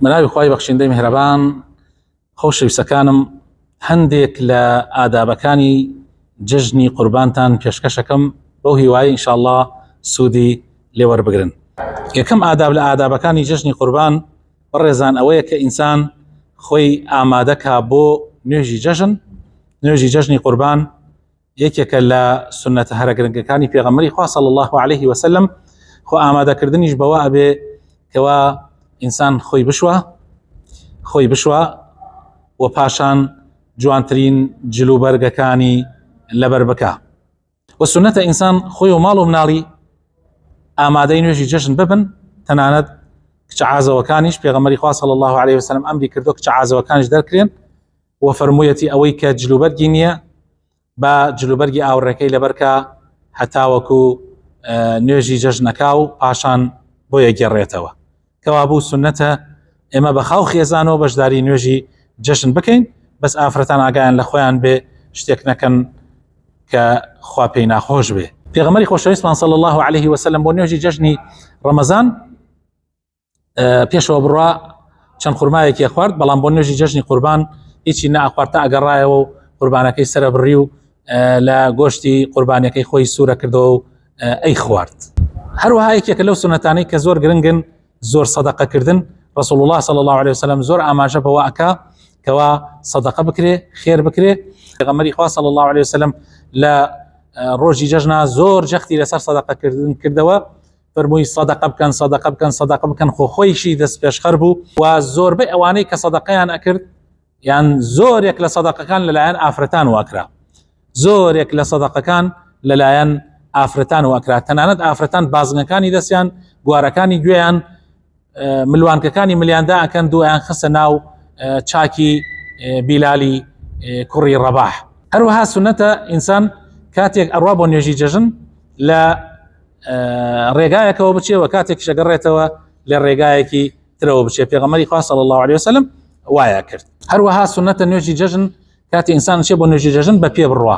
بەناوی خی بەخشیندەی میهرەبان خۆشەویستەکانم هەندێک لە ئادابەکانی جژنی قوربانتان پێشکەشەکەم بەو هیوای ئینشاءله سوودی لێوەربگرن یەکەم ئاداب لە ئادابەکانی جژنی قوربان بەڕێزان ئەوەیە کە ئینسان خۆی ئامادەکا بۆ نوێژی جەژن نوێژی جەژنی قوربان یەکێکە لە سنەتە هەرە گرنگەکانی پێغەمەری خوا صلی الله عليه وسلم خۆ ئامادەکردنیش بەوە ئەبێ کەوا ئینسان خۆی بشوە خۆی بشوە و پاشان جوانترین جلوبەرگەکانی لەبەر بکە و سنەتە ئینسان خۆی و ماڵ و مناڵی ئامادەی نوێژی جەژن ببن تەنانەت کچە عازەوەکانیش پێغەمەری خوا صلی الله عليه وسلم ئەمری کردو کچە عازەوەکانیش دەرکرێن و فەرموویەتی ئەوەی کە جلوبەرگی نییە با جلوبەرگی ئاوڕێکەی لەبەرکە هەتاوەکو نوێژی جەژنەکە و پاشان بۆ یەگەڕێتەوە کەوا بوو سنەتە ئێمە بە خاو خێزانەوە بەشداری نوێژی جەژن بکەین بەس ئافرەتان ئاگایان لە خۆیان بێ شتێک نەکەن کە خوا پێی ناخۆش بێ پێغمەری خۆشەویستمان صلی الله عليه وسلم بۆ نوێژی جەژنی ڕەمەزان پێشەوە بڕوا چەند خورماەکی خوارد بەڵام بۆ نوێژی جەژنی قوربان هیچی ناخواردتا ئەگەڕایەوە و قوربانەکەی سرە بڕی و لە گۆشتی قوربانەکەی خۆی سوورە کردەوە و ئەی خوارد هەروەها یەکێکە لەو سونەتانەی کە زۆر گرنگن زۆر سەدەقەکردن رسول الله صلى الله عليه وسلم زۆر ئاماژە بەوە ئەکا کەوا سەدەقە بکرێ خێر بکرێ غەمەری خوا صلى الله عليه وسلم لە ڕۆژی جەژنا زۆر جەختی لەسەر سەدەقەکردن کردەوە فەرمووی سەدەقە بکەن سەدەقە بکەن سەدەقە بکەن خۆ خۆیشی دەست پێشخەر بوو و زۆربەی ئەوانەی کە سەدەقەیان ئەکرد یان زۆرێک لە سەدەقەکان لەلایەن ئافرەتان واکرا زۆرێک لە سەدەقەکان لەلایەن ئافرەتان واکرا تەنانەت ئافرەتان بازنەکانی دەستیان گوارەکانی گوێیان ملوانکەکانی ملیاندا ئەکەن دوایان خستە ناو چاکی بیلالی کوڕی ڕەباح هەروەها سنەتە ئینسان کاتێک ئەڕوا بۆ نوێژی جەژن لە ڕێگایەکەوە بچێەوە کاتێک شەگەڕێتەوە لە ڕێگایەکی ترەوە بچێ پێغەمەری خواست الله عليه وسلم وایە کرد هەروەها سنەتە نوێژی جەژن کاتی ئینسان چێ بۆ نوێژی جەژن بە پێ بڕە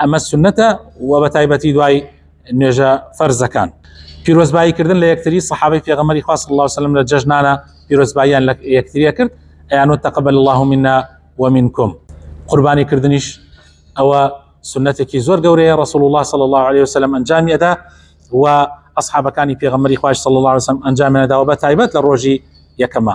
ئەمە سنەتە و بە تایبەتی دوای نوێژە فەرزەکان پیرۆزبایی کردن لە یەکتری صحابی پێغەمەری خواص الله وسلم لە جەژنانە پیرۆزباییان لە یەکتریە کرد ئەیانۆ تەقبل الله منا ومنکم قوربانی کردنیش ئەوە سنتێکی زۆر گەورەیە رسول الله صلى الله عليه وسلم ئەنجامی ئەدا و ئەصحابەکانی پێغەمەری خواش صلى الله عليه وسلم ئەنجامیانەداوە بە تایبەت لە ڕۆژی یەکەمە